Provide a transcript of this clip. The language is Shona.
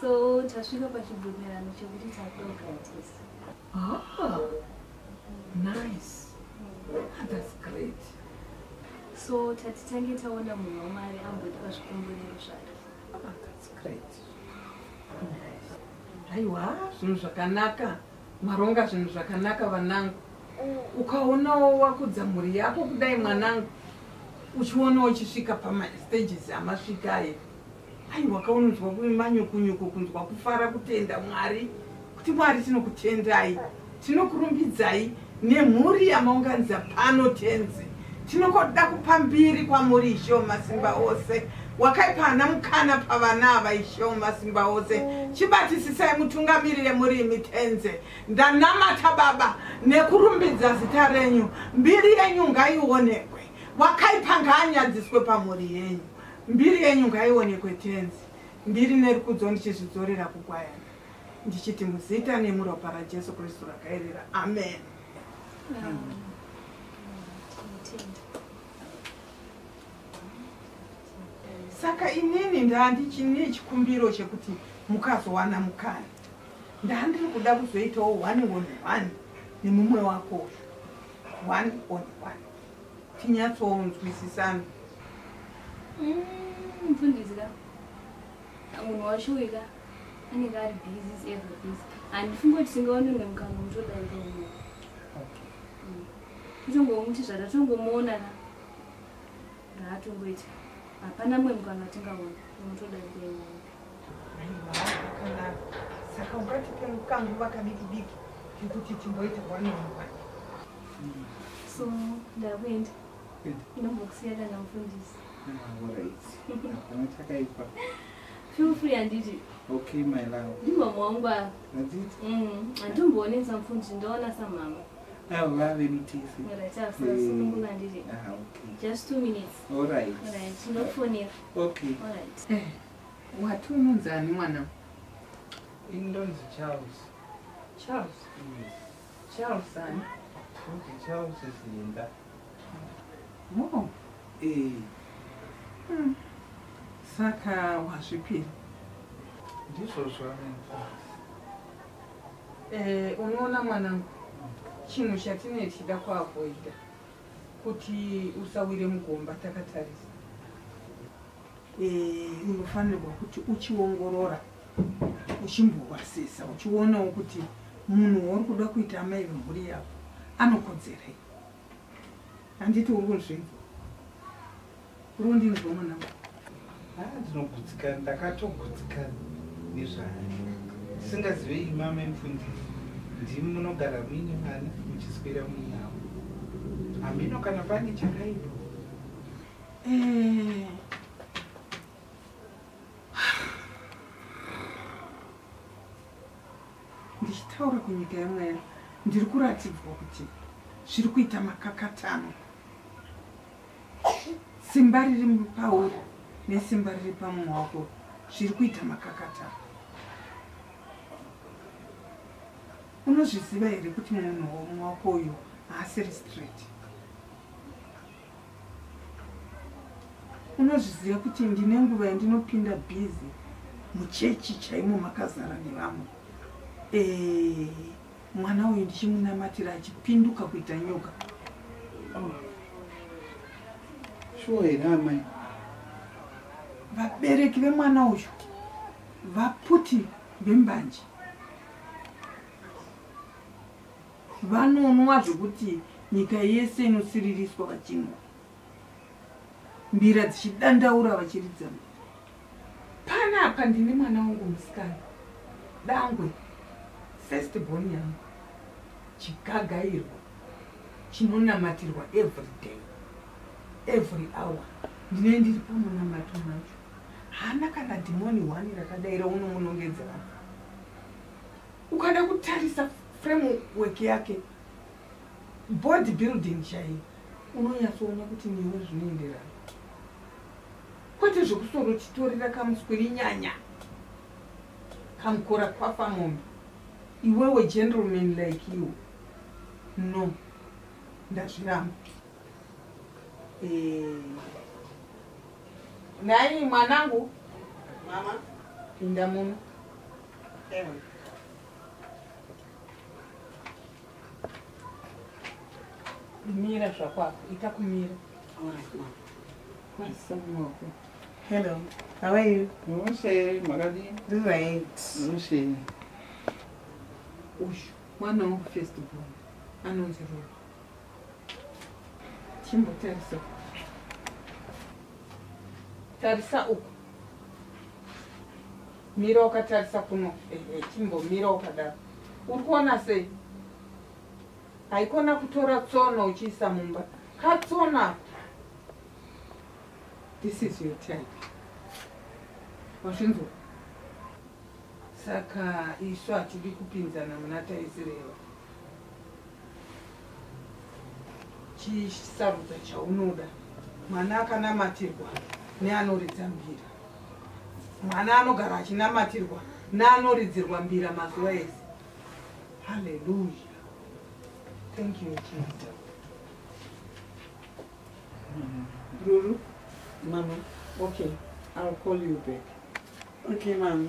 So tasvika pachibvumirano chekuti tadoka tese. Ah, nice. Ah, that's great. So tati tange taona munhu wamari ambotipa zvikumbuniro zvake. Ah, that's great. Nice. Aiwa, zvinhu zvakanaka. Maronga zvinhu zvakanaka vanangu. Ukaonawo wakudza mhuri yako kudai mwanangu. Uchionawo chisvika pama stages amasvika ayo. aiwa kaunonzwa manyokonyoko kunzwa kufara kutenda mwari kuti mwari tinokutendai tinokurumbidzai nemhuri yamaunganidza pano tenzi tinokoda kupa mbiri kwamuri ishowo masimba ose wakaipa ana mukana pavana ava ishowo masimba ose chibatisisai mutungamirire muri imi tenze ndanamata baba nekurumbidza zita renyu mbiri yenyu ngaionekwe wakaipa ngaanyadziswe pamhuri yenyu Mbiri yenyu ngaionekwe Tenzi, mbiri nerukudzo ndichizvidzorera kukwayana, ndichiti muzita nemuropa raJesu Kristu rakaerera, amen. Amen. saka inini ndandichine chikumbiro chekuti mukazowana mukana ndandiri kuda kuzoitawo one on one nemumwe wako one on one tinyatsonzwisisana mm, mfundisi ka munhu washuwi ka anenge ari busis ever busy handifunge kuti tingaone mwe mukana mutodaika umo kutongomuti mm. zvatatongomuona ka raatongoita hapana mwe mukana tingaona mutodaika imomo saka ungatipe kanguva kadikidiki kekuti timboita wanonwa so ndakuenda inombokusiya kana mufundisi hapana chakaipa feel free handiti okay my love ndimama wangu ava handitomboonesa mm, mufundisi ndoona samama avo vave mutisi wati unonzi ani mwana ini ndonzi charles charles yes. Charles ani? Kuti Charles Zinda. Mom. Eh. Hmm. Saka wazvipira. Ndizvo zvavenfasi. Eh, unoona mwanangu. Chinhu chatine tida kuavoida kuti usawire mugomba takatarisa. eh, unofanirwa kuti uchiongorora uchimborwasisa uchionawo kuti munhu wauri kuda kuita amai vemhuri yavo anokodzerei handiti uri kunzvinza uri kundinzwa mwanangu ah, ndinogutsikana ndakatogutsikana nezvaya ndisingazive imama emfundisi ndimi munogara muine vana muchiswera muinavo hamino kana pane chakaipa ndichitaura kunyika yemweya ndiri kuratidzwa kuti zviri kuita makakatano simba riri pauri nesimba riri pamumwe wako zviri kuita makakatano unozviziva here kuti munhu womwe wako uyu haasiri straight unozviziva kuti ndine nguva yandinopinda bhizi muchechi chaimo makazara nevamwe eh, mwana uyu ndichimunamatira achipinduka kuita nyoka oh. shuwa here amai vabereki vemwana uyu vaputi vembanje vanonwa zvekuti nyika yese inosiririswa vachinwa mbira dzichidandaura vachiridza pana apa ndine mwana wangu musikana dangwe first born yangu chigagairwa chinonamatirwa every day every hour ndine ndiri pamunamato macho hana kana dhimoni one rakadaira unomunongedzera ukada kutarisa framework yake board building chaiyo unonyatsoona kuti newe zvinoenderana kwete zvekusoro chitorera kamuswiri nyanya kamukora kwafa mombe iwewe gentleman like you no ndazviramba eh. nai mwanangu mama pinda muno mira zvakwako ita kumira hello how are you mushe makadii this right mushe uyu mwana wangu first born anonzi roa chimbotarisa tarisa uku Mira ukatarisa kuno eh, eh, chimbomira ukadaro uri kuona sei haikona kutora tsono uchiisa mumba katsona this is your time wazvinzwa saka isu hatidi kupinzana muna taisireva chisarudza chaunoda mwana akanamatirwa neanoridza mbira mwana anogara achinamatirwa neanoridzirwa mbira mazuva ese haleluya thank you jesus ruru mama okay ill call you back okay mama